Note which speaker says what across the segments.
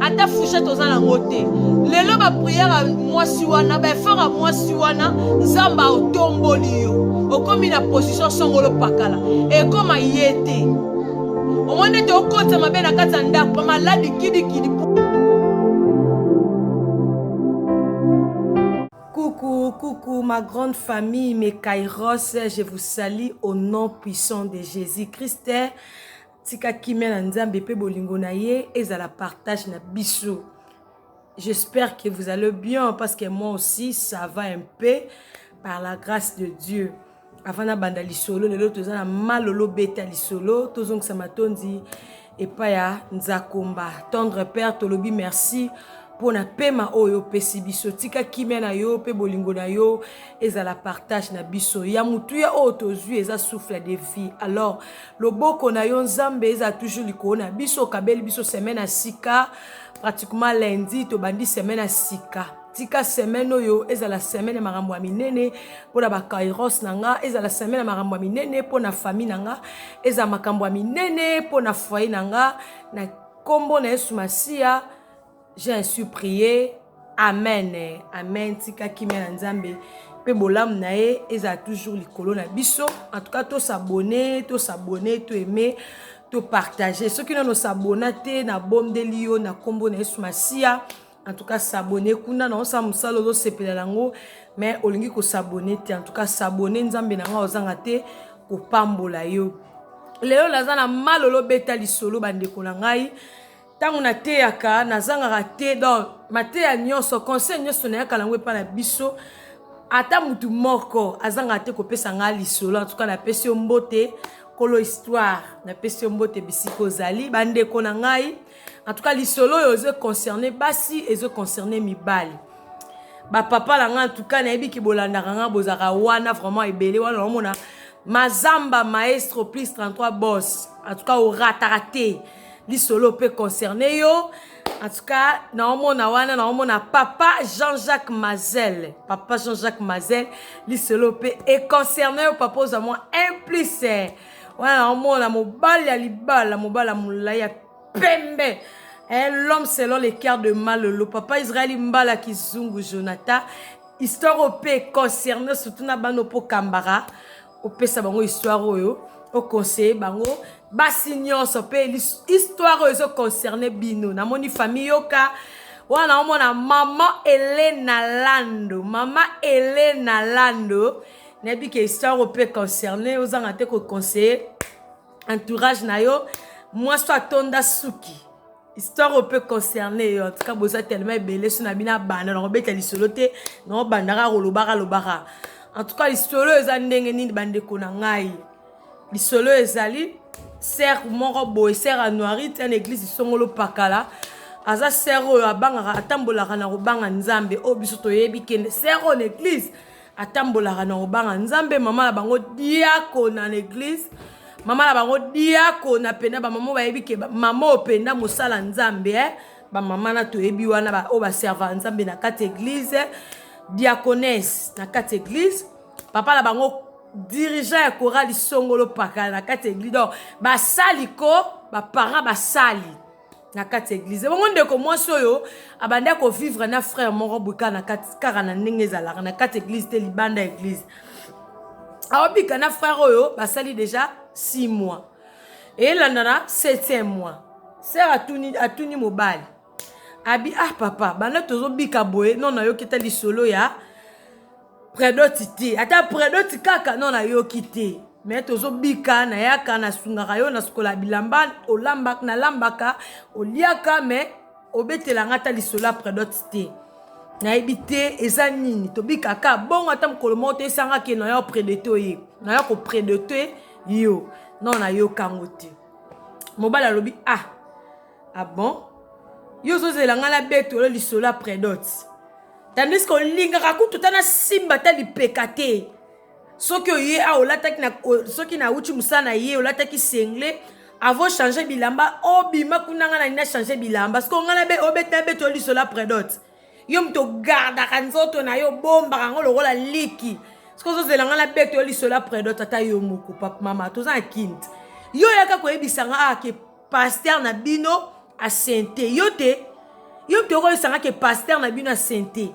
Speaker 1: ata fouchette oza nango te lelo bapriere ya mwasi wana baefort ya mwasi wana nzambe aotomboli yo okomi na position songolo pakala ekoma ye te omoni ete okotisa mabe na kati ya ndako bamaladi kidikidi Coucou, coucou ma grande famille, mes Kairos, je vous salue au nom puissant de Jésus-Christ. Tika kimia na Nzambe pe bolingo na ye ezala partage na biso. J'espère que vous allez bien parce que moi aussi ça va un peu par la grâce de Dieu. Avant na banda lisolo lelo toza na malolo beta lisolo tozongisa matondi epai ya Nzakomba tendre père tolobi merci mpo na pema oyo opesi biso tika kimia na yo mpe bolingo na yo ezala partage na biso ya motuya oyo tozwi eza souffle de vie alors loboko na yo nzambe ezala toujours likolo na biso okabeli biso semaine ya sika pratiquement lundi tobandi semaine ya sika tika semaine oyo ezala semaine ya makambo ya minene mpo na bakairos na nga ezala semaine ya makambo ya minene mpo na famille na nga ezala makambo ya minene mpo na foyer na nga na nkombo na yesu masiya j'ai ainsi prié amen amen tika kimia na nzambe mpe bolamu na ye ezala toujours likolo na biso en tout cas tosabone tosabone to aime topartage soki nano sabona te nabondeli yo na nkombo na yesu masiya en tout cas sabone kuna na osala mosala ozosepela yango mais olingi kosabone te en tout cas sabone nzambe na ngai ozanga te kopambola yo lelo naza na malolo beta lisolo bandeko na ngai Tango na teyaka na zangaka te donc mateya nionso conseil nionso na yaka nango epa na biso ata mutu moko azangaka te kopesa ngai lisolo en tout cas na pesi yo mbote kolo histoire na pesi yo mbote bisika ozali ba ndeko na ngai en tout cas lisolo oyo ezo concerner basi ezo concerner mibali ba papa na ngai en tout cas nayebi ki bolandaka ngai bozaka wana vraiment ebele wana omona mazamba maestro plus 33 boss en tout cas orataka te lisolo mpe concerne yo en tout cas naomona wana naomona papa jean-jacques mazel papa jean-jacques mazel lisolo mpe econcerne yo papa ozwa mwa un plus eh. wana naomona mobali ya libala mobali ya molai ya pembe eh, l'homme selon le cœur de malolo papa israeli mbala kizungu jonathan histoire ope concerne surtout na bano mpo kambara opesa bango histoire oyo oconseille bango basi nyonso mpe histoire oyo ezoconcerne bino namoni famille yoka wana omona mama elena lando mama elena lando nayebi ke histoire oyo mpe concerne ozanga te koconseille entourage na yo mwasi atonda suki histoire oyo mpe concerne yo antuka boza telema ebele so na bino abanda na kobeta lisolo te na obandaka kolobaka lobaka antuka lisolo oyo eza ndenge nini bandeko na ngai lisolo oyo ezali ser moko boye ser anuari ti na eglise songolo pakala aza ser oyo abangaka atambolaka na kobanga nzambe oyo biso toyebi kende ser oyo na eglise atambolaka na kobanga nzambe mama na bango diako na l'église mama na bango diako na penda bamama bayebi ke mama oyo penda mosala nzambe eh? bamama na toyebi wana oyo baservaka nzambe na kati eglise diaconese na kati eglise papa na bango dirigeant ya korali songolo pakala na kati eglise donc basali ko baparent basali na kati ya eglize bongo ndeko mwasi oyo abandi akovivre na frère moko boye kaka na kati kaka na ndenge ezalaka na kati ya eglize te libanda ya eglize aobika na frère oyo basali deja 6 mois elandana 7 mois sere atuni, atuni mobali abi ah papa banda tozobika boye no nayoki ta lisolo ya predoti te ata predoti kaka no nayoki te me tozobika nayaka nasungaka yo nasukola bilamba olamba nalambaka oliaka me obetela nga ata lisolo ya predoti te nayebi te eza nini tobika ka bongo ata mokolo moko te esanga ke nayo predete oye nayo kopredete yo no nayokango te mobali alobi ah Ah bon? Yo ozozela nga na beto yo lisolo ya predot. Tandis que olingaka kutu ta nasimba ta lipeka te. Soki oye a olataki na soki na uti musala na ye olataki sengle avant changer bilamba obima kuna nga na nina changer bilamba. Siko nga na be obeta beto yo lisolo ya predot. Yo moto ogardaka nzoto na yo obombaka yango lokola liki. Siko ozozela nga na beto yo lisolo ya predot ata yo moko papa mama toza na kinte. Yo yaka koyebisa nga ah, ke pasteur na bino asente yo te yo mpe okoyesanga ke pasteur na bino asente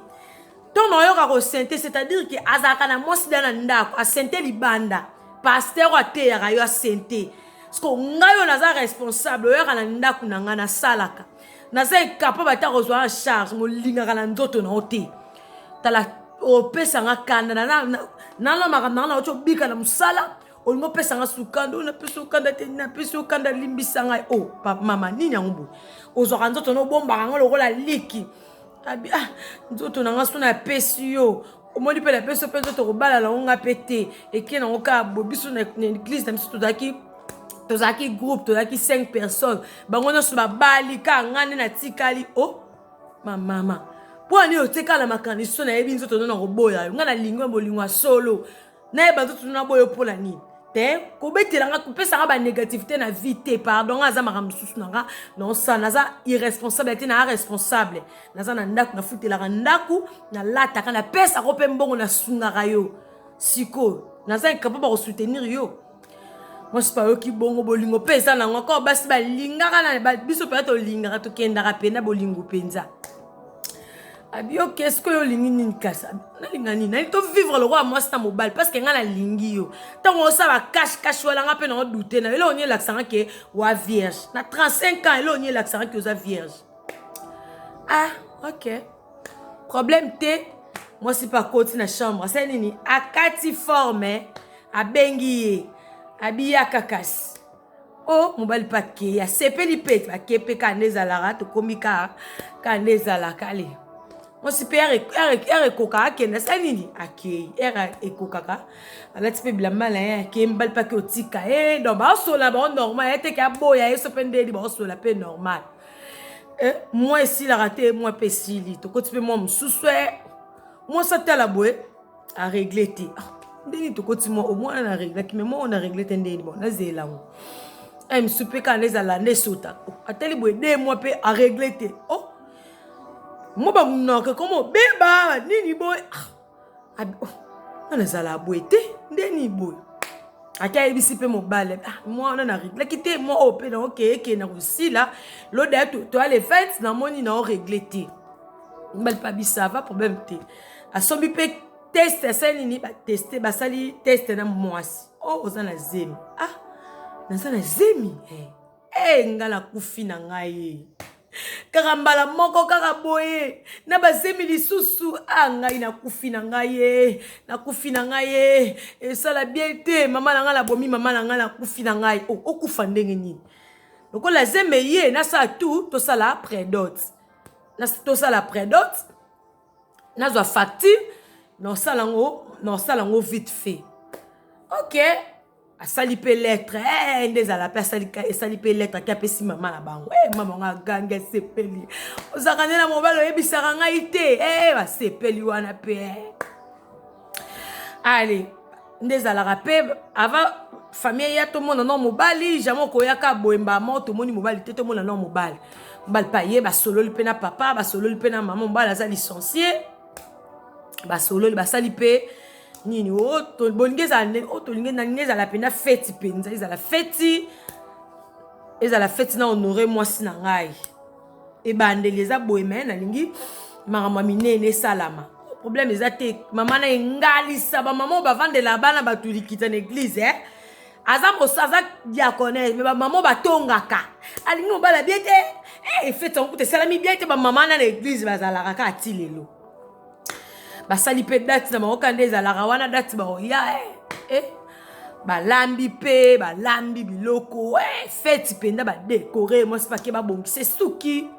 Speaker 1: ntongo oyoka kosente c'est-à-dire ke azalaka na mwasi da na ndako asente libanda pasteur oyo ateyaka yo asente ceke ngai oyo naza responsable oyaka na ndako na ngai nasalaka naza ekapable ata kozwa na charge molingaka na nzoto na yo te tala opesanga kanda nalomaka nanga na oti obika na mosala olingi opesa nga sukando napesi yo kanda te napesi yo kanda limbisa ngai o oh, mama nini yango boye ozwaka nzoto na obombaka yango lokola liki abi ah nzoto na nga so napesi yo omoni mpe napesi yo mpe nzoto kobala nango nga mpe te eke nango kaka bo biso na eglise na biso tozalaki tozalaki groupe tozalaki 5 personnes bango nyonso babali kaka nga nde natikali o oh, mamama mpo ani otikala makanisi so nayebi nzoto no na koboya yo nga nalingi bolingo ya solo naye bazotutu na boyo mpo na nini te kobetela nga kopesa nga banégativité na vie te pardon nga aza makambo mosusu na nga naosala naza irresponsable te naa responsable naza na ndako nafutelaka ndako nalataka napesaka mpe mbongo nasungaka yo sikoyo naza incapable bakosoutenir yo mwasi mpe ayoki bongo bolingo mpe eza nango kaka basi balingaka na biso mpenza tolingaka tokendaka mpena bolingo mpenza abiyoke sikoyo olingi nini kasi nalinga nini nalingi tovivre lokola mwasi na mobali parceke ngai nalingi yo ntango osala kashe kashe wana ngai mpe nango dute na yo eloko nini elakisanga ke wa vierge na 35 ans eloko nini elakisanga ke oza vierge ah ok problème te mwasi mpe akoti na chambre asali nini akati forme abengi ye abiyaka kasi o oh, mobali mpe akei asepeli mpe bake mpe kaa nde ezalaka tokomi kaa kaa nde ezalaka ale mwasi mpe ere ekoka akende asali nini akei ere ekokaka alati mpe bilamba na ye akei mobali mpe ake otika ye eh, donc baosola bango normal ye teke aboya ye so mpe ndeni baosola mpe normal eh, mwa esilaka te mwa mpe esili tokoti mpe mwa mosusu e eh, mwasi atala boye aregle te ah, ndenge tokoti mwa omwana na reglaki me mwa oyo na regle te ndenge bon nazela yango eh, mosusu mpe kaka nezala nde esota oh, atali boye de mwa mpe aregle te o oh, mwa bamunaka ekomo beba nini boye ah, nana ezala boye te ndeni boye ake ayebisi mpe mobali ah, mwa wana nareglaki te mwa oyo mpe nao keeke na kosila loda toya le 20 namoni nao regle te mobali mpe abisava problème te asombi mpe teste asali nini bateste basali teste na mwasi o oh, oza na zemi ah naza na zemi hey. Eh. ee nga nakufi na ngai kaka mbala moko kaka boye na bazemi lisusu a ngai nakufi na ngai ye nakufi na ngai ye esala bien te mama na ngai nabomi mama na ngai nakufi na ngai oh, okufa ndenge nini lokola zeme ye nasala tout tosala predote tosala predote nazwa facture nasala yango nasala yango vite fait ok asali mpe lettre hey, eh, nde ezala mpe asali esali mpe lettre ake apesi mama na bango hey, eh, mama yango agangi asepeli ozalaka nde na mobali oyebisaka ngai te hey, eh, basepeli wana mpe hey. ale nde ezalaka mpe ava famille ya tomona no mobali jamai okoyaka boyemba mo tomoni mobali te tomona no mobali mobali mpe aye basololi mpe na papa basololi mpe na mama mobali aza licencie basololi basali mpe nini oh, bolingi ezala ndenge oyo oh, tolingi ndenge ezala mpenza feti mpenza ezala feti ezala feti na honore mwasi na ngai ebandeli eza boye me nalingi makambo ya minene esalama problème eza te mama na engalisa bamama oyo bavandela bana bato likita na eglize eh? aza mosa aza diaconese me bamama oyo batongaka alingi mobala bie te efeti eh, yango kuta esalami bie te bamama na na eglize bazalaka kaka ti lelo basali mpe date na bango kanda ezalaka wana date baoya eh, eh. balambi mpe balambi biloko eh, feti mpenza badekore mwasi pake babongisa esuki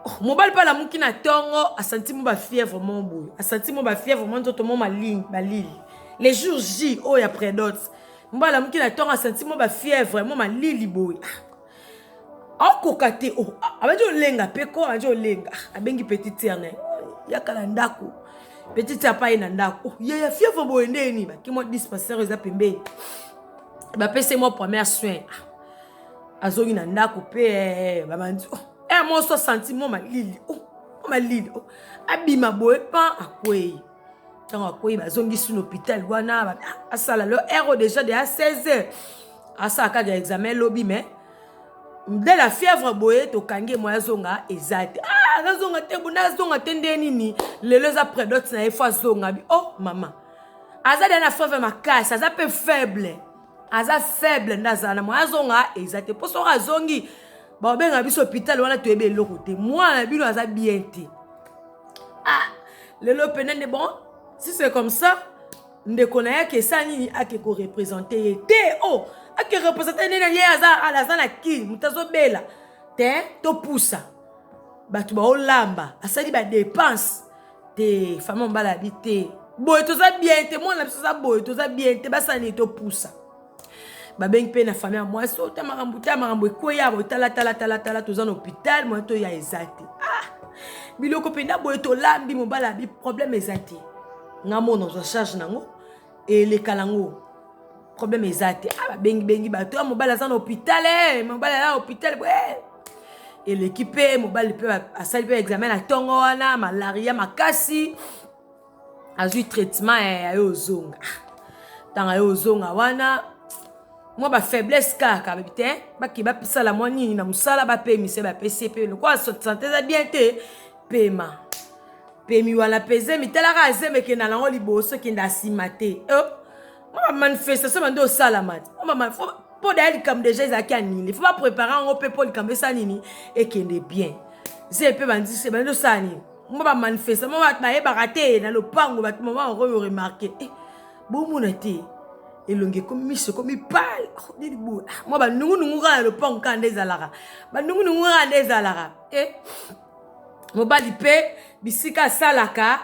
Speaker 1: oh, mobali mpe alamuki na ntongo asanti mo bafièvre mo boye asanti mo bafièvre mo nzoto mo malingi balili le jour j oyo ya predote mobali alamuki na ntongo asanti mo bafièvre mo malili boye ah. akoka te oh, abandi olenga mpe ko abandi olenga abengi petit tiere na ye yaka na ndako petit tiere apai na ndako oh, ye ya fievre boye nde ye nini baki mwa dispensaire eza pembeni bapesi mwa première soin ah, azongi na ndako mpe eh, babandi oh, eh, moso santi mwa malili malili abima boye pa akwei ntango akwei bazongisi na hôpital wana asala lo ero déjà de a 16 heures asala kaka examen lobi mais de la fièvre boye tokangi ye moye azonga eza te ah, nazonga te bona azonga te nde nini lelo eza predote na ye fo azonga bi oh mama aza deya na fièvre makasi aza mpe faible aza faible nde azala na moye azonga eza te mpo soki azongi baobenga biso hopital wana toyebi eloko te mwana na bino aza bien te ah lelo pene nde bon si c'est comme ça ndeko na ye akesa nini ake korepresente ye te o oh, ake represente nini ye aza aza na kini moto azobela te topusa bato baolamba asali badepense te fama mobala abi te boye toza bien te mwana na biso aza boye toza bien te basala nini topusa babengi mpe na famille ya mwasi ota makambo ta makambo ekweya boye talatalatalata toza na hôpital moya toya eza te ah! biloko mpenza boye tolambi mobali abi problème eza te nga mona ozwa charge nango eleka nango problème eza te ah, babengibengi bato ya ah, mobali aza na hôpital eh, mobali aza na hôpital boye eh. eleki mpe mobali mpe asali mpe examen na ntongo wana malaria makasi azwi traitement ya yayo ozonga ntanga yo ozonga wana mwa bafaiblesse kaka babi te bake basala mwa nini na mosala bapemise bapesi mpe lokola sante eza bien te pema pemi wana peze mitalaka azemeke na lango liboso kende asima te oh, mwa bamanifestation bande osalama te mpo daya likambo deja ezalaki anile fo baprepare yango mpe mpo likambo esala nini ekende bien ze mpe bandisi bande osala nini mwa ba manifestement bato bayebaka te na lopango bato mama yango yo remarke eh, bomona te elongi ekomi miso ekomi pale oh, nini boye ah, mwa banungunungu kaka na lopango kaka nde ezalaka banungunungu kaka nde ezalaka e mobali mpe bisika asalaka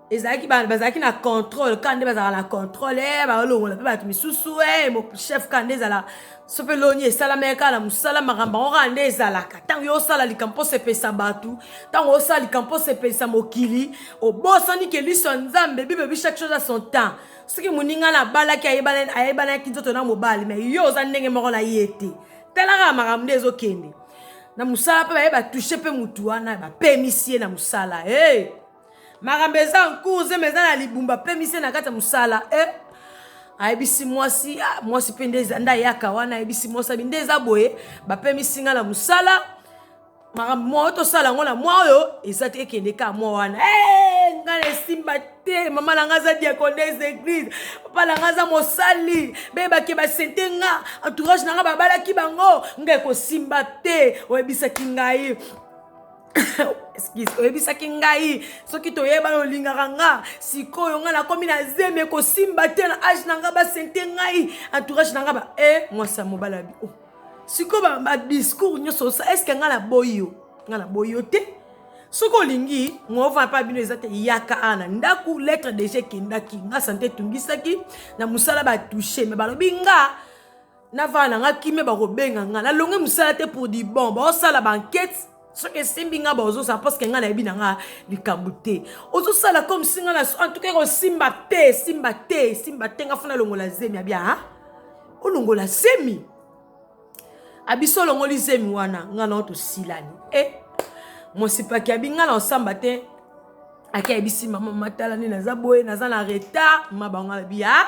Speaker 1: ezalaki ba- bazalaki na contrôle kaka nde bazalaka na contrôle eh, baolongola mpe bato misusu eh, mo- chef kaka nde ezala so mpe loni esalamaki kaka na mosala makambo yango kaka nde ezalaka ntango yo osala likambo mpo osepelisa bato ntango osala likambo mpo osepelisa mokili obosani ke liso ya nzambe bible bi chaque chose à son temps soki moninga na abalaki ayebana- ayebanaki nzoto na mobali mais yo oza ndenge moko na ye te talaka makambo nde ezokende na mosala mpe baye batouche mpe motu wana bapemisi ye na mosala hey! Makambo eza en cours zema eza na libumba pe mise na kati ya mosala eh. ayebisi mwasi ah, mwasi mpe nde nde ayaka wana ayebisi mwasi abi nde eza boye bapemisi ngai na mosala makambo mwa oyo tosala yango na mwa oyo eza te ekende ka mwa wana eh, ngai na esimba te mama na ngai aza diaconese eglise papa na ngai aza mosali beyebake basente nga entourage na ngai babalaki bango ngai ekosimba te oyebisaki ngai excuse oyebisaki ngai soki toyebana olingaka nga sikoyo ngai nakomi na zemi ekosimba te na age na ngai basente ngai entourage na ngai ba e eh, mwasi ya mobali abi o oh. sikoyo badiscours nyonso osa estce ngai naboyi yo ngai naboyi yo te soki olingi ngova mpe bino eza te yaka a na ndako lettre deja ekendaki nga sante etungisaki na mosala batouche me balobi nga navana na nga kimia bakobenga nga nalongi mosala te pour du bon baosala bankete soki esimbi nga baozosala parceke nga nayebi na nga likambo te ozosala comme si nga na antuka ekosimba te esimba te esimba te nga funa longola zemi abia ha olongola zemi abiso olongoli zemi wana nga nao tosilani e eh, mosipaki abi nga naosamba te ake ayebisi mama matala nde naza boye naza na retard ma bango abi ha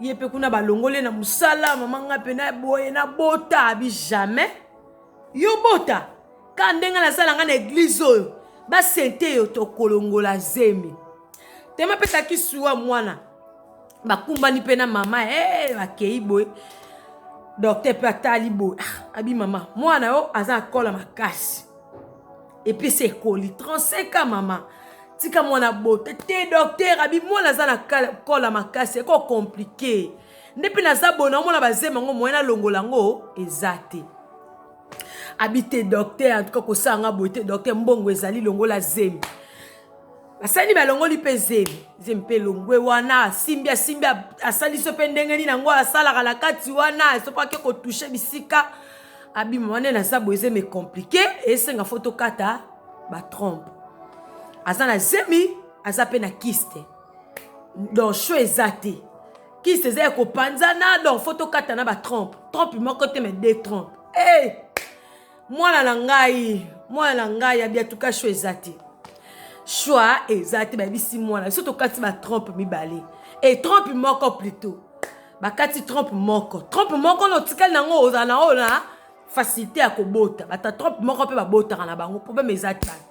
Speaker 1: ye mpe kuna balongoli na mosala mama ngai mpe na boye nabota abi jamais yo bota ka ndenge nasala ngai na eglize oyo basente yo tokolongola zemi te mapesaki suwa mwana bakumbani mpe na mama e eh, hey, bakei boye docteur mpe atali boye ah, abi mama mwana yo aza akola makasi epesi ekoli 35 a mama tika mwana bota te docteur abi mwana aza na kola makasi eko komplike nde mpe naza bona omona bazema yango moyen alongola yango eza te abi te docteur antuka kosala nga boye te docteur mbongo ezali longola zemi basani balongoli mpe zemi zemi mpe elongwe wana asimbi asimbi asali so mpe ndenge nini yango asalaka na kati wana soki ake kotushe bisika abima wana na zabo ezemi ekomplike esenga fo tokata batrompe aza na zemi aza mpe na kiste donc sho eza te kiste eza ya kopanzana donc fo tokata na batrompe trompe moko te me de trompe hey! Eh! mwana na ngai mwana na ngai ya biatuka sho eza te choix eza te bayebisi mwana biso tokati batrompe mibale e trompe moko plutot bakati trompe moko trompe moko na otikali nango ozala na oyo na facilité ya kobota bata trompe moko mpe babotaka na bango problème eza te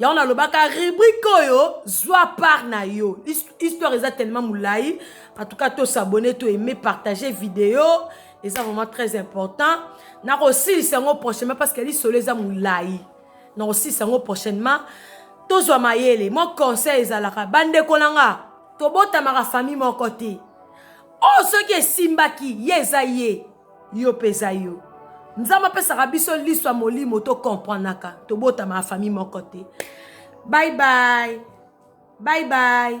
Speaker 1: yango nalobaka rubrike oyo zwa part na yo histoire eza tellement molai en tout cas tosabone to aime partage video eza vraiment très important nakosilisa yango prochainement parce que lisolo eza molai nakosilisa yango prochainement tozwa mayele mwa conseil ezalaka bandeko na nga tobotamaka famille moko te oyo oh, soki esimbaki ye eza ye Yo peza yo. Nzambe apesaka biso liso ya molimo to comprenaka tobotama na famille moko te bye bye bye bye